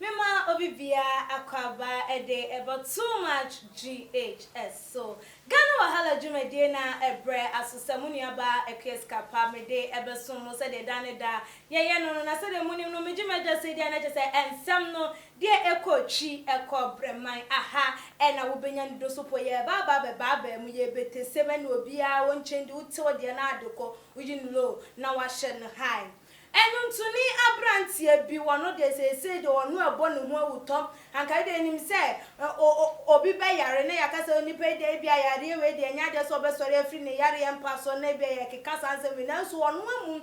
Mema obi biara akwaaba de bɔ Too Much GHS so. Ghana Wahala dwumadie no ara ɛbrɛ aso sɛ mo nuabaa Akua Sika Pa mede ɛbɛsom mo sɛdeɛ da ne da yɛyɛ no no. Na sɛdeɛ monim no megye m'adwa sei deɛ na kyerɛ sɛ nsɛm no deɛ ɛkɔ twi ɛkɔ brɛman aha na wobɛnya ne do so po yɛreba aba abɛba abaa mu yɛrebɛtesɛm ɛne obiara wɔnkyɛn di wote wo deɛ no adekɔ woyi no low na wahyɛ no high. Ɛnwontoni aberanteɛ bi, ɔno deɛ seesei deɛ ɔno ɛbɔ ne ho awutɔ, anka yi deɛ nim sɛ obi bɛyare na yɛaka sɛ onipa yi deɛ ebia yareɛ wei deɛ ɛnyɛ adeɛ sɛ ɔbɛsɔre afiri ne yareɛ mpa so na ebia yɛkeka saa nsɛm wei nanso ɔno amu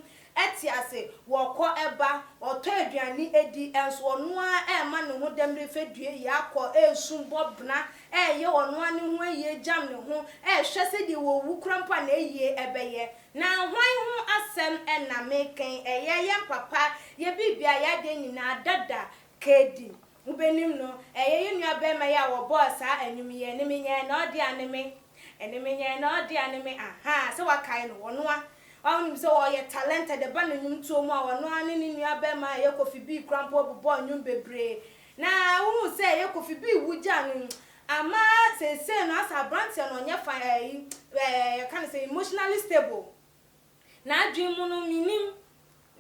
te ase, ɔkɔ ba, ɔtɔ aduane di, nso ɔno ara rema ne ho dam refɛ due yi akɔ, resum, bɔ bena, reyɛ ɔno ara ne ho ayie gyam ne ho, rehwɛ sɛdeɛ wawu koraa mpo a n'ayie bɛyɛ. Na hwan ho asɛm na mereka yi? Ɛyɛ yɛn papa, yɛ biribia, yɛ adeɛ nyinaa, dada, Kedi. Mobɛnim no. Ɛyɛ yɛn nuabarima yi a wɔbɔɔ saa nnwom yi, Ɛne me nyɛɛ na ɔde ane me, Ɛne me nyɛɛ na ɔde ane me, ahaa, sɛ woakae no, ɔno a, a wonim sɛ ɔyɛ talented, ɛba ne nnwomtoɔ mu a, ɔno ara ne ne nuabarima a ɛyɛ Kofi Bee kora mpo bobɔɔ nnwom bebree, na wohu sɛ ɛyɛ Kofi Bee wogyaa no, Ama seesei no asɛ aberanteɛ no ɔnyɛ fine ɛɛ yi ɛɛ yɛka no sɛ emotionally stable. N'adwene mu no mennim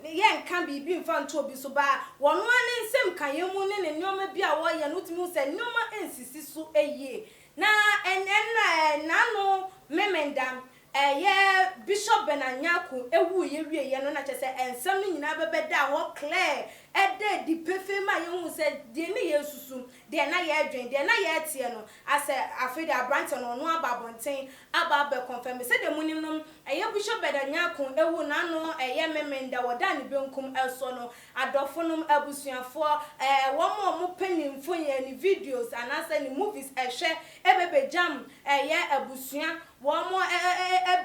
ne yɛ nka biribi mfa nto obi so baa wɔno ara ne nsɛm kaeɛ mu ne ne nneɛma bi a wɔyɛ no wotumi hu sɛ nneɛma nsisi so yie na ɛnna ɛɛ n'ano memenda Ɛyɛ Bishop Bernard Nyarko wuiɛ wieɛ no na kyerɛ sɛ nsɛm no nyinaa bɛbɛdaa hɔ clear, ɛda adi pefee maa yɛhuu sɛ deɛ na yɛresusu, deɛ na yɛredwen, deɛ na yɛreteɛ no, asɛ afei deɛ aberanteɛ no ɔno aba abɔnten aba abɛ confirm. Sɛdeɛ monim no, ɛyɛ Bishop Bernard Nyarko wu no ano yɛ Memenda, wɔdaa ne benkum soɔ no, adɔfonom, abusuafoɔ, ɛɛ wɔn a wɔpɛ ne mfonin, ne videos anaasɛ ne movies hwɛ bɛbɛgyam ɛyɛ abusua Wɔn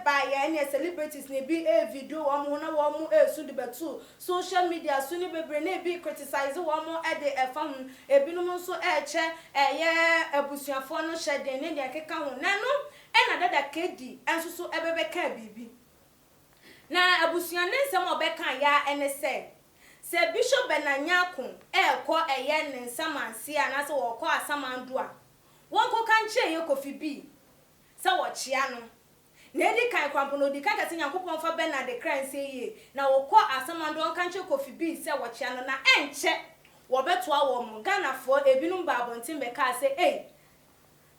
baeɛ ɛneɛ celebrities no ebi video wɔn ho na wɔn resu de bɛto social media so ne bebree na ebi criticize wɔn de ɛfa ho, ebinom nso rekyɛ ɛyɛ abusuafoɔ no hyɛden ne deɛ ɛkeka ho na ɛno na dada Kedi nso so bɛbɛkaa biribi na abusua ne nsɛm a ɔbɛkaa ya ne sɛ sɛ Bishop Bernard Nyarko rekɔ ɛyɛ ne nsamanseɛ anaasɛ ɔrekɔ Asamando a wɔnkɔka nkyerɛ yɛ Kofi Bi sɛ wɔkyea no. Nea edi kan, Kwampɔn a odi kan ka sɛ Nyankopɔn mfa Bernard kra nsie yie, na wɔkɔ Asamando ɔnka nkyerɛ Kofi Bee sɛ wɔkyea no na ɛnkyɛ wɔbɛtoa wɔn. Ghanafoɔ ebinom baa abɔnten bɛkaa sɛ, Ei,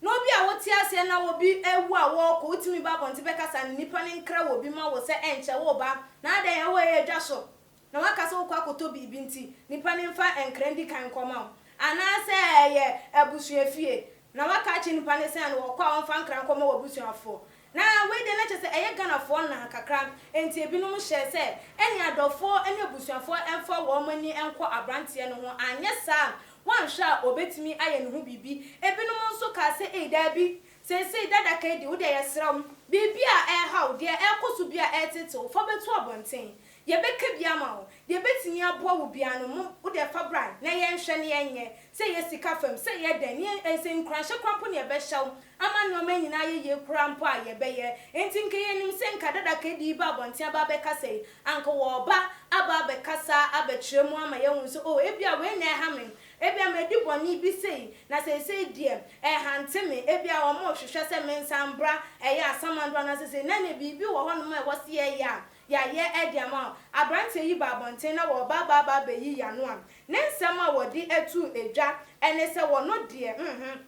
na obi a wote aseɛ na obi awu a wɔrekɔ, wotumi ba abɔnten bɛkasa ne nnipa no nkra obi ma wo sɛ ɛnkyɛ woreba, na adɛn, ɛhɔ yɛ dwa so? na woaka sɛ wokɔ akɔtɔ biribi nti, nipa no mfa nkra ndi kan nkɔma wo. Anaasɛ ɛyɛ abusua fie, na woaka akyerɛ nipa no sɛ no ɔkɔ a ɔmfa nkra nkɔma w'abusuafoɔ. Na wei deɛ na kyerɛ sɛ ɛyɛ Ghanafoɔ nna kakra, enti ebinom hyɛɛ sɛ ɛneɛ adɔfoɔ ne abusuafoɔ mfa wɔn ani nkɔ abranteɛ no ho, anyɛ saa a woanhwɛ a ɔbɛtumi ayɛ ne ho biribi. Ebinom nso kaa sɛ ei daabi, seesei dada kai di, wodeɛ yɛsrɛ wo, biribi a ɛreha wo, deɛ ɛrekɔ so bi a ɛretetew wo, fa bɛto abɔnten. Deɛ bɛka bi ama wo. Deɛ bɛtumi aboa wo biara no mom wo deɛ fa bra na yɛ nhwɛ na yɛ nyɛ. Sɛ yɛ sika fam, sɛ yɛ dɛn, ne yɛ sɛ nkuranhyɛ koraa mpo na yɛ bɛhyɛ wo ama nnoɔma nyinaa ayɛ yie koraa mpo a yɛ bɛyɛ. Enti nka yɛ nim sɛ nka dada ka ɛde yi ba abɔnten aba abɛkasa yi, anka wɔ ba aba abɛkasa abɛkyerɛ mu ama yɛ ahunu sɛ oh ebia wei na ɛha me, ebia ma di bɔne bi sei na seisei deɛ ɛhante me, ebia wɔn hwehwɛ sɛ me nsa mbra ɛyɛ asamando anaasɛ sei, na nɛ biribi wɔ hɔ nom a ɛwɔ sɛ yɛ yɛ a Yɛayɛ de ama wo. Aberanteɛ yi baa abɔnten na wɔreba aba aba abɛyi Yano a, ne nsɛm a wɔde atuu dwa ne sɛ wɔno deɛ hmhmm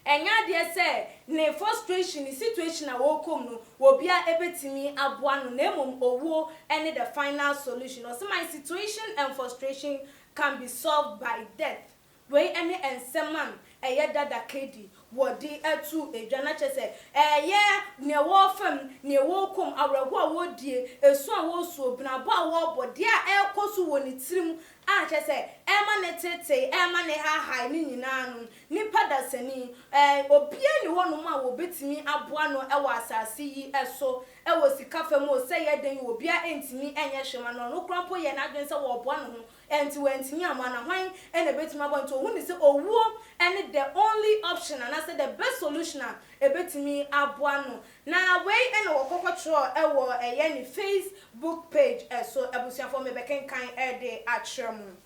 ɛnyɛ adeɛ sɛ ne frustration, ne situation a ɔrekɔ mu no obiara bɛtumi aboa no na mmom owuo ne the final solution. Ɔse, My situation and frustration can be solved by death. Wei ne nsɛm a ɛyɛ dada Katie wɔ de ato dwa, na kyerɛ sɛ ɛyɛ nea ɛwɔ fam, nea ɛwɔ komm, awerɛhoɔ a ɔredie, esu a ɔresuo, benabɔ a ɔrebɔ, deɛ a ɛrekɔ so wɔ ne tirim a kyerɛ sɛ ɛrema no teetee, ɛrema no haahae no nyinaa no, nipa dasani, ɛɛ, obiara nni hɔnom a wɔbɛtumi aboa no wɔ asase yi so, wɔ sika fam o, sɛ ɛyɛ dɛn o, obiara ntumi nyɛ hwee mma no, ɔno koraa mpo yɛɛ n'adwene sɛ ɔreboa ne ho Enti wantumi ammɔ a na hwan na ebetumi abɔ? Nti ohuu no sɛ owuo ne the only option anaasɛ the best solution a ebetumi aboa no. Na wei na ɔkɔ kɔtwerɛɛ wɔ ɛyɛ ne face book page so. Abusuafoɔ mebɛkenkan de akyerɛ mo.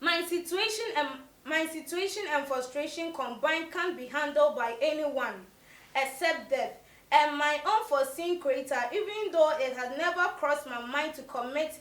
My situation and my situation and frustration combined can't be handled by any one except death and my unforeseen creator even though it had never crossed my mind to commit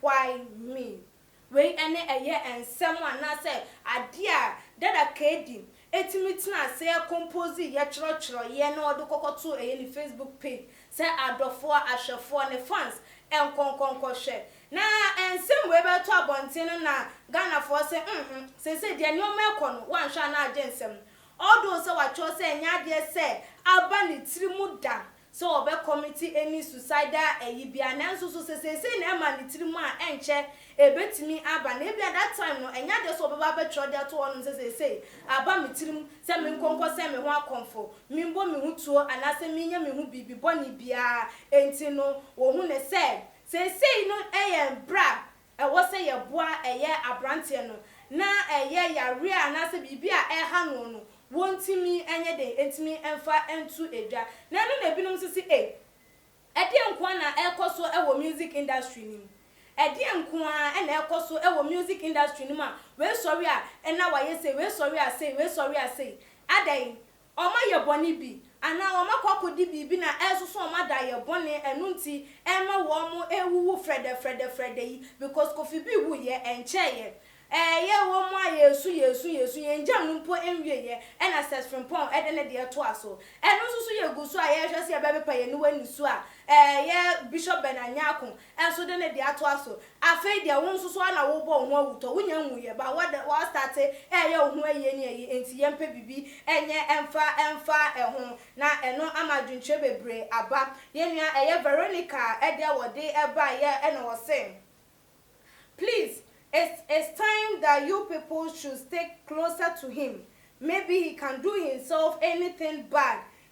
Why me? Wei ne ɛyɛ nsɛm anaasɛ adeɛ a Dada Kaydi tumi tena aseɛ kompoosiiɛ twerɛtwerɛeɛ na ɔde kɔkɔtoo ɛyɛ ne Facebook page sɛ adɔfoɔ, ahwɛfoɔ, ne fans nkɔnkɔnkɔhwɛ. Na nsɛm wei bɛtɔ abɔnten no na Ghanafoɔ se mhmm seesei deɛ nneɛma rekɔ no woanhwɛ a na agye nsɛm. Although sɛ watwerɛ sɛ ɛnyɛ adeɛ sɛ aba ne tiri mu da sɛ wɔbɛkɔmete ani suicidal ayi bi a, nanso so sɛ seesei na ɛma ne tirim a, ɛnkyɛ ebetumi aba, na ebia that time no ɛnyɛ adeɛ sɛ ɔbɛba abɛtwerɛ de ato hɔnom sɛ seesei aba me tirim sɛ menkɔ nkɔsɛn me ho akɔmfo, memmɔ me ho tuo anaasɛ menyɛ me ho biribi bɔne biara, enti no wɔhu no sɛ seesei no yɛ bere a ɛwɔ sɛ yɛboa ɛyɛ aberanteɛ no na ɛyɛ yareɛ anaasɛ biribi a ɛreha noɔ no wɔntumi nyɛ dɛn ntumi mfa nto dwa na ɛno na binom nso se ei ɛdeɛn nko ara na ɛrekɔ so wɔ music industry no mu ɛdeɛn nko ara na ɛrekɔ so wɔ music industry no mu a wei sɔre a na wayɛ sei wei sɔre a sei wei sɔre a sei adɛn Wɔayɛ bɔne bi, anaa wɔakɔ akɔdi biribi na ɛresoso wɔn adayɛ bɔne, ɛno nti ɛma wɔrewuwu frɛdɛfrɛdɛfrɛdɛ yi, because Kofi B wuiɛ, ɛnkyɛeɛ. Ɛyɛ wɔ mu a yɛresu yɛresu yɛresu, yɛn jam no mpo nwieɛ, ɛna Seth Frimpong de ne deɛ toa so. Ɛno nso so yɛgu so a yɛrehwɛ sɛ yɛbɛpepa yɛn aniwa nniso a, ɛyɛ Bishop Ben Anyarko Ɛnso dɛn na ɛde atoa so? Afei deɛ wo nso so ara na wobɔ wo ho awutɔ, wonya nwuiɛ ba, woada, woastate reyɛ wo ho ayi ɛne ayi, enti yɛmpɛ biribi nyɛ mfa mfa ɛho, na ɛno ama adwenkyerɛ bebree aba. Yɛn nua ɛyɛ Veronica deɛ wɔde baeɛ ɛna wɔse, Please, it's it's time that you people should stick closer to him, maybe he can do himself anything bad,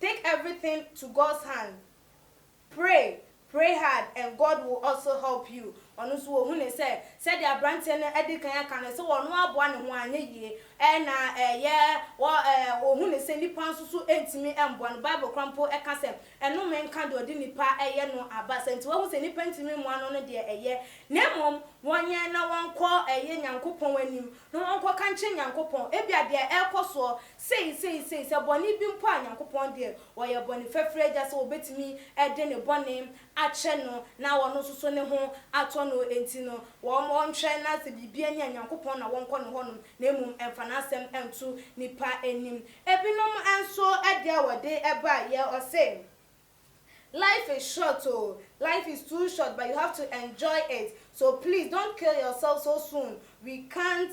Take everything to God's hand pray pray hard and God will also help you ɔno nso ɔhu ne sɛ sɛdeɛ abranteɛ no adikan aka no sɛ ɔno aboa ne ho anyɛ yie ɛɛ na ɛyɛ wɔ ɛɛ ɔhu ne sɛ nipa nso so ntumi mboa no bible kora mpo ɛka sɛ ɛnome nka deɛ ɔde nipa ɛyɛ no abasa nti wahu sɛ nipa ntumi mmoa no no deɛ ɛyɛ na mmom wɔnyɛ na wɔnkɔ ɛyɛ nyankopɔn anim na wɔnkɔ ka nkyerɛ nyankopɔn ebia deɛ ɛɛkɔ soɔ Sei, sei, sei, sɛ bɔne bi mpo a Nyankopɔn deɛ ɔyɛ bɔne fafiri agya sɛ wɔbɛtumi de ne bɔne akyɛ no na ɔno nso so ne ho atɔ no enti no wɔn ɔnhwɛ na sɛ biribi ani a Nyankopɔn na wɔnkɔ ne hɔ nom na mmom ɛmfa n'asɛm nto nipa anim. Ebinom nso deɛ wɔde ba yɛ ɔse life is short o, life is too short but you have to enjoy it so please don't kill yourself so soon we can't.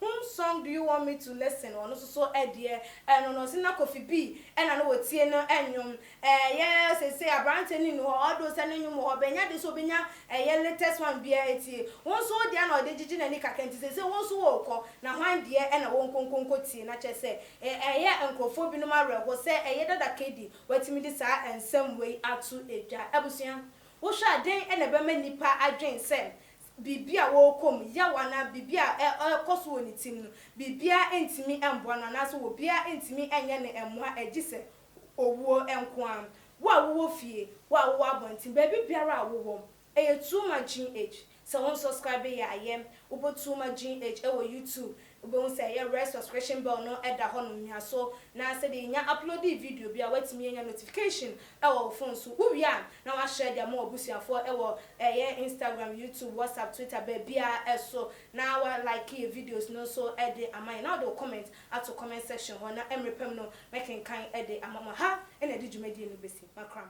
Whom song do you want me to listen ɔno nso so ɛdeɛ ɛno no ɔse na Kofi B ɛna no wɔtie no nnwom ɛyɛ seisei abranteɛ no nni hɔ although sɛ ne nnwom wɔ hɔ but ɛnya de sɛ ɔbɛnya ɛyɛ latest one biara atie wo nso wo deɛ na ɔde gyegye n'ani kakra nti seisei wo nso worekɔ na hwan deɛ ɛna wonkonkonko tie na kyerɛ sɛ ɛyɛ nkorɔfoɔ binom awerɛho sɛ ɛyɛ dada Kaydi watumi de saa nsɛm wei ato dwa abusua wohwɛ a dɛn na ɛbɛma nnipa adwen sɛ biribi a ɔrekɔ mu, yaw anaa biribi a ɛrekɔ so wɔ ne tirim no, biribiara ntumi mmoa no anaasɛ obiara ntumi nyɛ no mmoa gye sɛ owuo nko ara. Wo a wowɔ fie, wo a wowɔ abɔnten, baabi biara a wowɔ, ɛyɛ tuo ma Gene H. Sɛ wonsɔskraibe yɛ a, yɛ. Wobɔ tuo ma Gene H wɔ YouTube Wobɛhu sɛ yɛ red subscription bell no da hɔnom, nua so na sɛdeɛ yɛnya uploadee video bi a woatumi anya notification wɔ wo phone so, wowie a na woashare de ama w'abusuafoɔ wɔ yɛ Instagram, YouTube, WhatsApp, Twitter, baabiara so na wa like yɛ videos no nso de ama yɛn na wode wo comment ato comment section hɔ na mmerɛ pa mu no mɛkenkan de ama mo. Ɛha na yɛde dwumadie no bɛsi. Makram.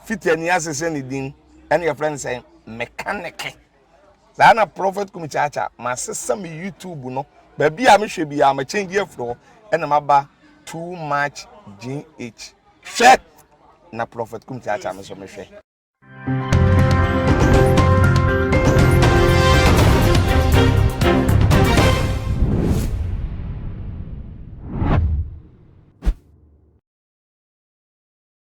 Fiti ani ase sɛ ne din ɛna yɛfrɛ no sɛ mekaneke. Saa na Prophet Kumi Kyaakya masesa me YouTube no baabi a mehwɛ biara ma change afiri hɔ ɛna maba too much GH. Hwɛ na Prophet Kumi Kyaakya me so mehwɛ.